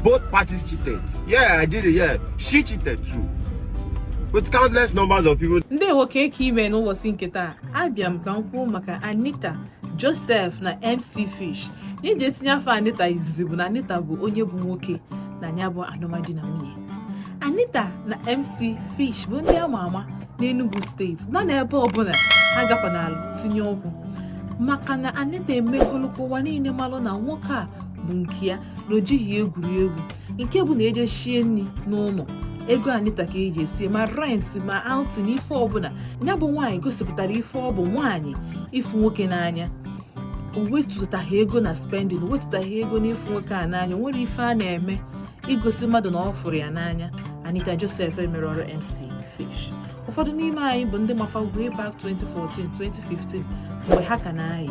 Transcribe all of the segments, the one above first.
Both parties cheated. Yeah, I did it. Yeah, she cheated too. With countless numbers of people. Ndewo kee ka i me n'ụbọchị nke taa abịa m ka m kwuo maka Anita Joseph na MC Fish. Ihe m ji etinye afa Anita izizi bụ na Anita bụ onye bụ nwoke na ya bụ alụmdi na nwunye. Anita na MC Fish bụ ndị ama ama n'Enugu steeti na ebe ọbụla ha gakwanalụ tinye ọkụ maka na Anita emegolụkwa ụwa niile malụ na nwoke a bụ nke ya na o jighị egwuri egwu nke bụ na eje sie nri n'ụlọ ego anita ka eji esie ma rent ma outing na ife ọbụla ya bụ nwaanyị gosipụtara ife ọ bụ nwaanyị ịfụ nwoke n'anya o wetụtaghị ego na spending o wetụtaghị ego n'ịfụ nwoke a n'anya o nwere ife a na-eme igosi mmadụ na ọ fụrụ ya n'anya anita joseph emerọrụ mc fish ụfọdụ n'ime anyị bụ ndị ma fa way back 2014 2015 mgbe ha ka na-ayị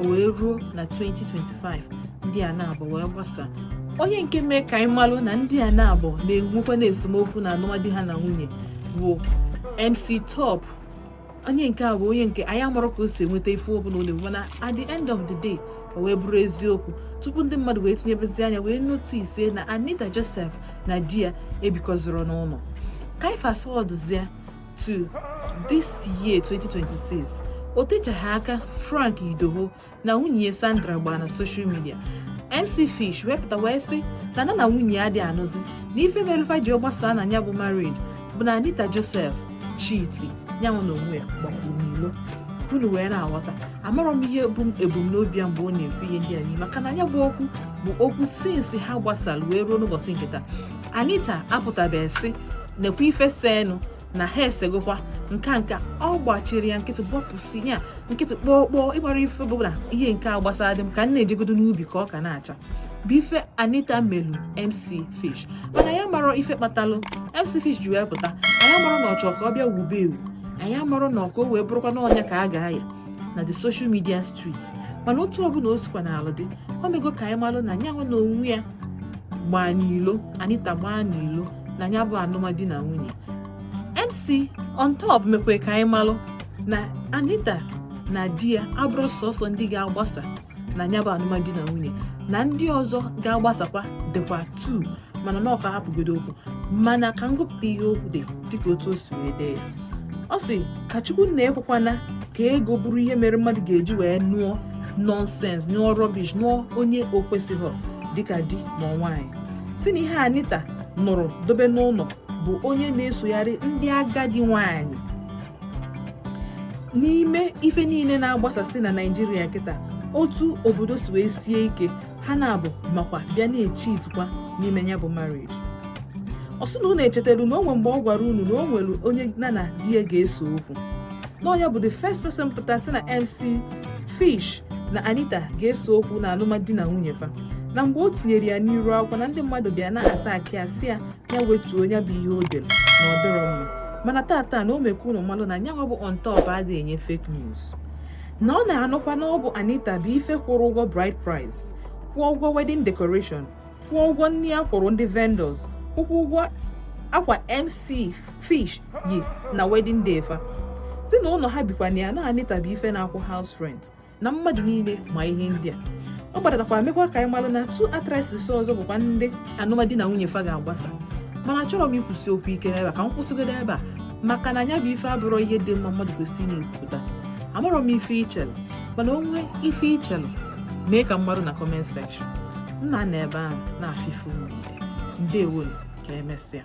o wee ruo na 2025 ndị a naabọ wee gbasa onye nke mee ka anyị malụ na ndị a naabọ na-enwekwa na esemokwu na alụmdi ha na nwunye bụ MC Top onye nke a bụ onye nke anyị amarọ ka o si enweta ife ọbụla ọ na-enwe mana at the end of the day o wee bụrụ eziokwu tupu ndị mmadụ wee tinyebezi anya wee notice na Anita Joseph na di ya ebikọzirọ n'ụlọ ka anyị fast to this year 2026 o techaghị aka Frank Edoho na nwunye Sandra gbaa na social media MC Fish wee pụta wee sị na nya na nwunye ya adị anụzi na ife meru fa ji gbasaa na ya bụ marriage bụ na Anita Joseph cheat nyanwa na onwe ya gbakwuru n'ilo unu wee na-aghọta amarọ m ihe bụ ebumnobi ya mgbe ọ na-ekwu ihe ndị a niile maka na ya bụ okwu bụ okwu since ha gbasara wee ruo n'ụbọchị nke taa Anita apụtabeghị sị nekwa ife senu na ha esegokwa nka nka ọ gbachiri ya nkịtị gbọpụsi ya nkịtị kpọọ kpọọ ịgbara ife bụ na ihe nke a gbasara dị m ka m na-ejegodo n'ubi ka ọka na-acha bụ ife anita melu mc fish mana anyị amarọ ife kpatalụ mc fish ji wee pụta anyị amarọ na ọ chọrọ ka ọ bịa wube ewu anyị amarọ na ọ ka o wee bụrụkwa na ọ nya ka a ga-aya na the social media street mana otu ọbụla o sikwanalụ dị o mego ka anyị malụ na nyanwa na onwe ya gbaa n'ilo anita gbaa n'ilo na ya bụ alụmdi na nwunye MC on top mekwe ka anyị malụ na Anita na di ya abụrọ sọsọ ndị ga-agbasa na ya bụ alụmdi na nwunye na ndị ọzọ ga-agbasakwa dịkwa two mana na ọ ka hapụgodo okwu mana ka m gụpụta ihe o kwulu dịka otu o si wee dee ya ọ sị ka chukwu nna ekwekwana ka ego bụrụ ihe mere mmadụ ga-eji wee nụọ nonsense nụọ rubbish nụọ onye o kwesịghị dịka di ma nwaanyị sị na ihe Anita nụrụ dobe n'ụlọ bụ onye na-esogharị ndị agadi nwanyị n'ime ife niile na-agbasasị na Naịjirịa kịta otu obodo si wee sie ike ha na-abụ makwa bịa na-echi itikwa n'ime ya bụ marriage ọ sị na unu echetara na o nwee mgbe ọ gwara unu na o nwere onye ya na di ya ga-ese okwu na ya bụ the first person pụta sị na MC Fish na Anita ga-ese okwu na alụmdi na nwunye fa na mgbe o tinyere ya n'iru akwụkwọ na ndị mmadụ bịa na-attack ya sị ya ya wetuo ya bụ ihe o dere na ọ dịrọ mma mana taata na o mee ka unu malụ na nyanwa bụ on top adịghị enye fake news na ọ na-anụkwa na ọ bụ Anita bụ ife kwụrụ ụgwọ bride price kwụọ ụgwọ wedding decoration kwụọ ụgwọ nri a kwụrụ ndị vendors kwụkwuo ụgwọ akwa MC Fish yi na wedding day fa sị na ụlọ ha bikwa na ya na Anita bụ ife na-akwụ house rent na mmadụ niile ma ihe ndị a ọ gbadatakwa mekwa ka anyị malụ na two actresses ọzọ bụkwa ndị alụmdi na nwunye fa ga-agbasa mana achọrọ m ịkwụsị okwu ike n'ebe a ka m kwụsịgodo ebe a maka na nya bụ ife abụrọ ihe dị mma mmadụ kwesịrị na-ekwupụta amarọ m ife i chelu mana o nwee ife i chelu mee ka m malụ na comment section m na-anọ ebe ahụ na-afụ ife niile ndewo nụ ka emesịa